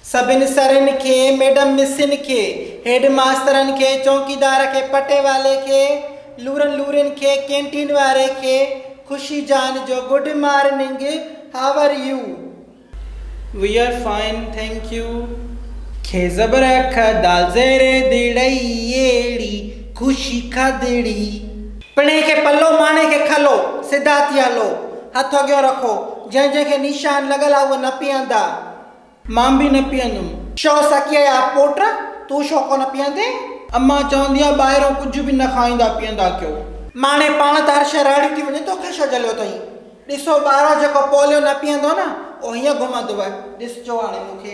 سڀن سرن کي، ميڊم مسن کي، هيڊ ماسترن کي، چونڪيدار کي، پٽي والي کي، لورن لورين کي، ڪينٽين واري کي، خوشي جان جو good morning, how are you. We are fine thank you. کي زبر کدال زيري دڙئي ايڙي خوشي کدڙي. پڻهين کي پلو ماڻي کي کلو، سڌا ٿي هلو، هٿ اڳيون رکو، جنهن جنهن کي نيشان لڳل آ اهي نه پيئندا، مان به نه پيئندم. شو سکيء جا پوٽ، تون شو ڪونه پيئندين؟ امان چوندي آ، ٻاهريون ڪجهه به نه کائيندا پيئندا ڪيو. ماڻي پاڻ ته هر شيء رهڙي ٿي وڃي، توکي ڇو جهليو اٿئي؟ ڏسو ٻارو جيڪو پوليو نه پيئندو نه، اهو هيئن گهمندوء، ڏسجو هاڻي مون کي.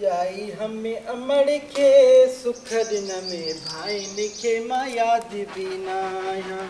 ڄائي هم امڙ کي سک ڏن مي ڀائين کي مان ياد به نه آهيان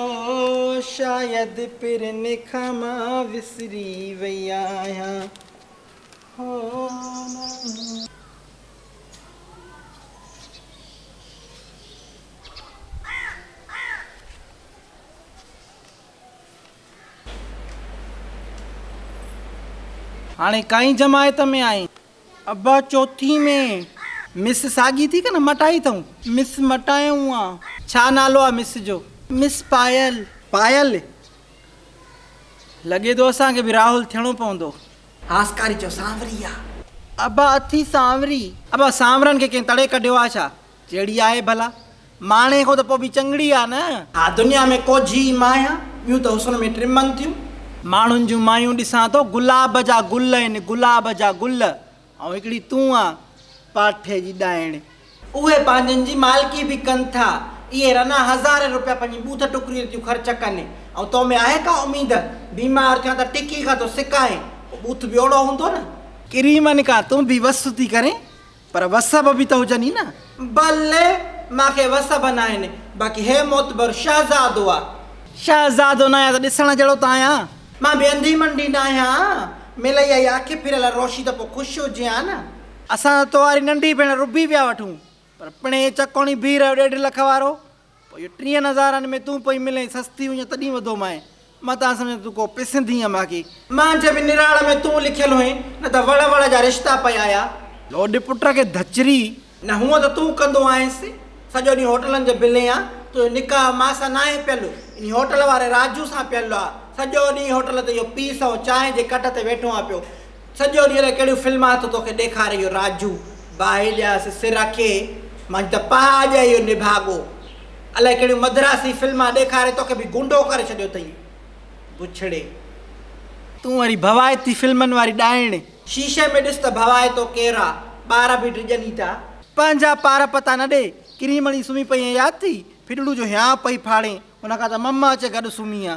او شايد پرين کان مان وسري وئي آهيان هو. هاڻي ڪائين جماعت ۾ آهين؟ ابا چوٿين ۾. مس ساڳي ٿي ڪه نه مٽائي اٿئون؟ مس مٽايون آ. ڇا نالو آ مس جو؟ مس پايل. پايل! لڳي ٿو اسان کي به راهول ٿيڻو پوندو. هاسڪاري چئو سانوري آ. ابا اٿي سانوري. ابا سانورن کي ڪنهن تڙي ڪڍيو آ ڇا؟ جهڙي آهي ڀلا؟ ماڻهي کان ته پوء به چڱڙي آ نه. ها دنيا ۾ ڪوجهي ئي مايان. ٻيون ته حسن ۾ ٽرمن ٿيون. ماڻهن جون مايون ڏسان ٿو. گلاب جا گل ان گلاب جا گل. ۽ هڪڙي تون آ پاٺي جي ڏائڻي. اهي پنهنجن جي مالڪي به ڪن ٿا. اهي رنا هزارين رپيا پنهنجي بوٿ ٽڪري تي ٿيون خرچ ڪن. ۽ تو ۾ آهي ڪا اميد؟ بيمار ٿيان ته ٽڪي کان ٿو سڪائين. پوء بوٿ ٻيوڙو هوندو نه. ڪريمن کان تون به وس ٿي ڪرين. پر وسب به ته هجن ئي نه. بلي، مان کي وسب ناهن، باقي هي معتبر شهزادو آ. شهزادو نه آهيان ته ڏسڻ جهڙو ته آهيان. مان به انڌي منڊي ناهيان، ملئي آئي آکي ڦريل روشي ته پوء خوش هجي ها نه. اسان ته توهاري ننڍي ڀيڻ ربي پيا وٺون، پر پڻهين هي چڪوڻي بيهه رهيو ڏيڍ لک وارو، پوء ٽيهن هزارن ۾ تون پئي ملين سستي هئين تڏهين وڌو مانء. مان تان سمجهان تون ڪو پسندي هئين ماکي. مان جي به نراڙ ۾ تون لکيل هئين نه ته وڙ وڙ جا رشتا پئي آيا. لوڏ پٽ کي ڌچري. نه هونء ته تون ڪندو آهيس سڄو ڏينهن هوٽلن جي بلين آ. تنهنجو نڪاح مان سان ناهي پيل انهي هوٽل واري راجو سان پيل آ. سڄو ڏينهن هوٽل تي اهو پيس ۽ چانهه جي ڪٽ تي ويٺو آ پيو. سڄو ڏينهن الائي ڪهڙيون فلمان ٿو توکي ڏيکاري اهو راجو. باهه ڏياس سر اکي مان ته پاهه اڄ اهو نڀاڳو الائي ڪهڙيون مدراسي فلمان ڏيکاري توکي به گونڊو ڪري ڇڏيو اٿئي بڇڙي. تون وري ڀوائتي فلمن واري ڏائڻ. شيشي ۾ ڏس ته ڀوائتو ڪير آ ٻار به ڊڄن ئي ٿا. پنهنجا پار پتا نه ڏي. ڪريمڻي سمهي پئي ۽ ياد ٿي ڦڏڙو جو هيان پئي ڦاڙين ان کان ته مما اچي گڏ سمهي ها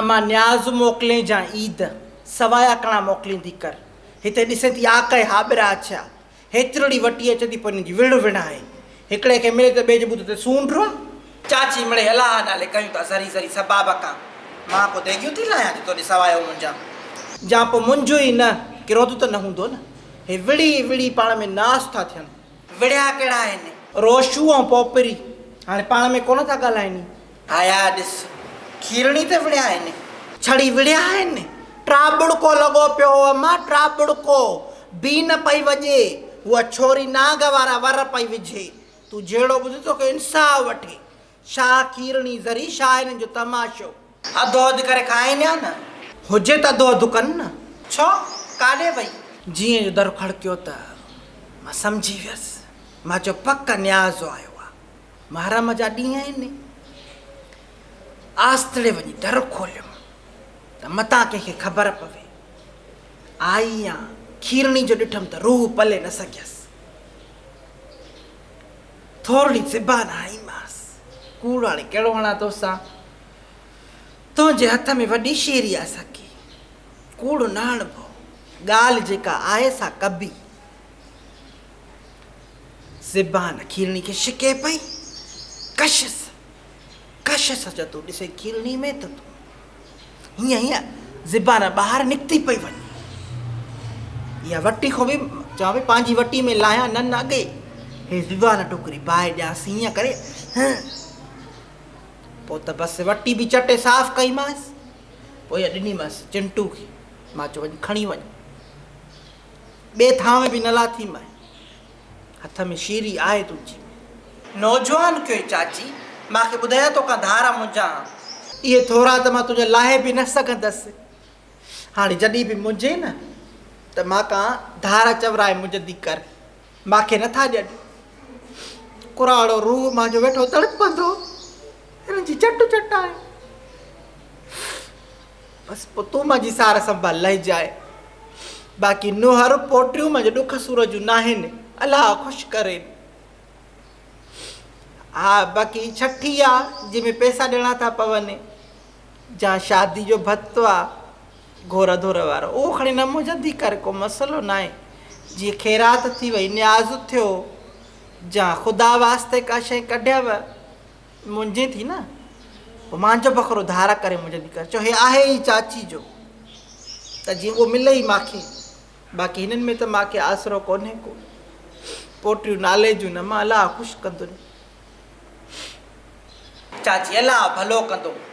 امان نياز موڪلين جا عيد سوا اڪڻا موڪليندي ڪر هتي ڏسين ٿي آڪهي هاٻرا اڇيا هيترڙي وٽي اچندي پنين جي وڙهه وڙهائي هڪڙي کي ملي ته ٻئي جي ٻوٿ تي سونڊ رو. چاچي مڙئي هلا ها نالي ڪيون ٿا ذري ذري سبا بڪا مان ڪو ديڳيون ٿي لاهيان جو توڏي سوا اهو منجهان. جا پو منجهه ئي نه ڪروڌ ته نه هوندو نه هي وڙهي وڙهي پاڻ ۾ ناس ٿا ٿين. وڙهيا ڪهڙا آهن. روشو ۽ پوپري هاڻي پاڻ ۾ ڪونه ٿا ڳالهائين ني. هيا ڏس، کيرڻي ته وڙهيا آهن. ڇڙي وڙهيا آهن. ٽرابڙڪو لڳو پيو هو اما، ٽرابڙڪو. بين پئي وڄي. هوء ڇوري ناگ وارا ور پئي وجهي. تون جهيڙو ٻڌ تو کي انصاف وٺي. شاهه کيرڻي ذري شاهه هنن جو تماشو. اڌ اڌ ڪري کائين ها نه. هجي ته اڌو اڌ ڪن نه. ڇو؟ ڪاڏي وئي؟ جيئن جو در کڙڪيو ته مان سمجهي ويس. مان چيو پڪ نياز جو آيو آ. محرم جا ڏينهن آهن آستڙي وڃي در کوليم ته متان ڪنهن کي خبر پوي آئي يا کيرڻي جو ڏٺم ته روح پلي نه سگهيس ٿورڙي زبان هڻي ماس ڪوڙ هاڻي ڪهڙو هڻان توسان تنهنجي هٿ ۾ وڏي شيري آ سکي ڪوڙ نه هڻبو ڳالهه جيڪا آهي سا ڪبي زبان کيلڻي کي شڪي پئي. ڪشس! ڪشس! جو تون ڏسين کيلڻي ۾ ته تون هيئن هيئن زبان ٻاهر نڪتي پئي وڃي. اها وٽي کان به چوان پئي پنهنجي وٽي ۾ لاهيان نه نه اڳي هي زبان ٽڪري باهه ڏيانس هيئن ڪري هن پوء ته بس وٽي به چٽي صاف ڪئيمانس پوء ڏنيمانس چنٽو کي مان چيو وڃي کڻي وڃ ٻي ٿانء به نه لاٿي مئي. هٿ ۾ شيري آهي تنهنجي ۾. نوجوان ڪيو چاچي مان کي ٻڌايا توکان ڌارا منهنجا. اهي ٿورا ته مان تنهنجا لاهي به نه سگهندس. هاڻي جڏهن به منهنجين نه ته مان کان ڌارا چورائي منهنجندي ڪر. مان کي نه ٿا ڏين. ڪراڙو روح مان جو ويٺو تڙپندو هنن جي چٽ چٽائي. بس پوء تون منهنجي سار سنڀال لهجاء. باقي نوهر پوٽيون منهنجي ڏک سور جون ناهن، الله خوش ڪرين. ها باقي ڇٺي آ، جنهن ۾ پئسا ڏيڻا ٿا پون، جا شادي جو ڀت آ، گهور ڌور وارو، اهو کڻي نه منهنجندي ڪر، ڪو مسئلو ناهي. جيئن خيرات ٿي وئي، نياز ٿيو، جا خدا واسطي ڪا شيء ڪڍيو. منهنجي ٿي نه پوء مانجهو بکرو ڌار ڪري منهنجي ڏي ڪر. چيو هي آهي ئي چاچي جو ته جيئن اهو ملي ئي ماکي باقي هنن ۾ ته ماکي آسرو ڪونهي ڪو. پوٽيون نالي جون نه مان الله خوش ڪندون. چاچي الله ڀلو ڪندو.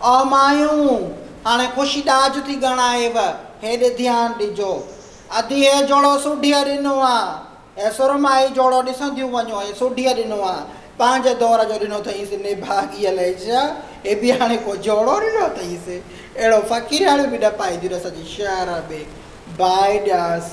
او مايون! هاڻي خوشي ڏاج ٿي ڳڻائيو، هيڏي ڌيان ڏجو. ادي هي جوڙو سوڍيء ڏنو آ. هي سرمائي جوڙو ڏسنديون وڃو، هي سوڍيء ڏنو آ. پنهنجي دور جو ڏنو اٿئينس نڀاڳي الائي ڇا، هي به هاڻي ڪو جوڙو ڏنو اٿئينس. اهڙو فقيراڻيون به نه پائينديون نه سڄي شهر ۾ باهه ڏيانس.